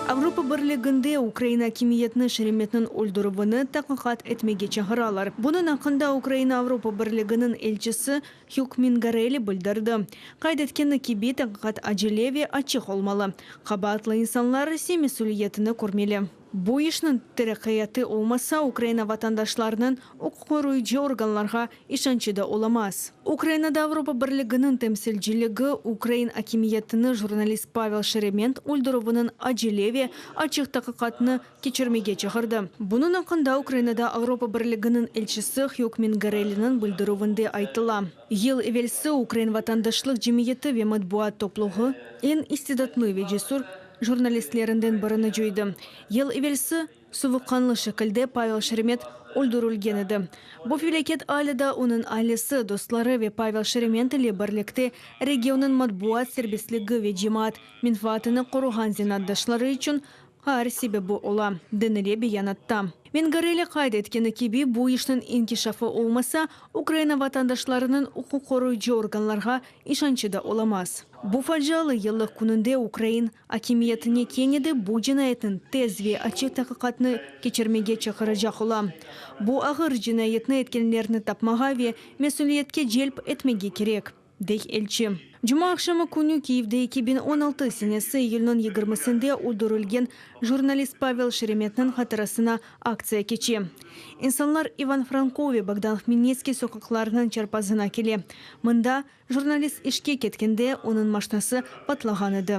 Avropa Birliginde ukrain akimiyetini Şeremetniñ öldürüvini taqiqat etmege çağıralar. Bunıñ aqqında Ukraina Avropa Birliginiñ elçisi Hug Mingarelli bildirdi. Qayd etkeni kibi, taqiqat acele ve açıq olmalı. Qabaatlı insanlar ise mesüliyetini körmeli. Bu işniñ teraqqiyatı olmasa, Ukraina vatandaşlarınıñ uquqqoruyıcı organlarğa işançı da olamaz. Ukrainada Avropa Birliginiñ temsilciligi ukrain akimiyetini jurnalist Pavel Şeremet öldürüviniñ acele ve açıq taqiqatını keçirmege çağırdı. Bunıñ aqqında Ukrainada Avropa Birliginiñ elçisi Hug Mingarelliniñ bildirüvinde aytıla. Yıl evelsi ukrain vatandaşlıq cemiyeti ve matbuat topluğı, eñ istidatlı ve cesur, jurnalistlerinden birini cuydı. Yıl evelsi, suvuqqanlı şekilde Pavel Şeremet öldürilgen edi. Bu felâket alâ da onıñ ailesi, dostları ve Pavel Şeremet ile birlikte regionnıñ matbuat serbestligi ve cemaat menfaatını qoruğan zenaatdaşları içün ğar sebebi ola, denile beyanatta. Vengareli qayd etkeni kibi, bu işniñ inkişafı olmasa, Ukraina vatandaşlarınıñ uquqqoruyıcı organlarğa İşançı da olamaz. Bu facialı yıllıq kününde ukrain akimiyetine kene de bu cinayetniñ tez ve açıq taqiqatını keçirmege çaqıracaq olam. Bu ağır cinayetni etkenlerni tapmağa ve mesülietke celp etmege kerek, dey elçi. Cuma aqşamı künü Kyivde eki biñ on altı senesi iyülniñ yigirmisinde öldürilgen jurnalist Pavel Şeremetniñ hatırasına Aktsiya keçe. İnsanlar İvan Franko ve Bogdan Hmelnitskiy soqaqlarınıñ çarpazına kele. Mında, jurnalist işke ketkende, onıñ maşnası patlağan edi.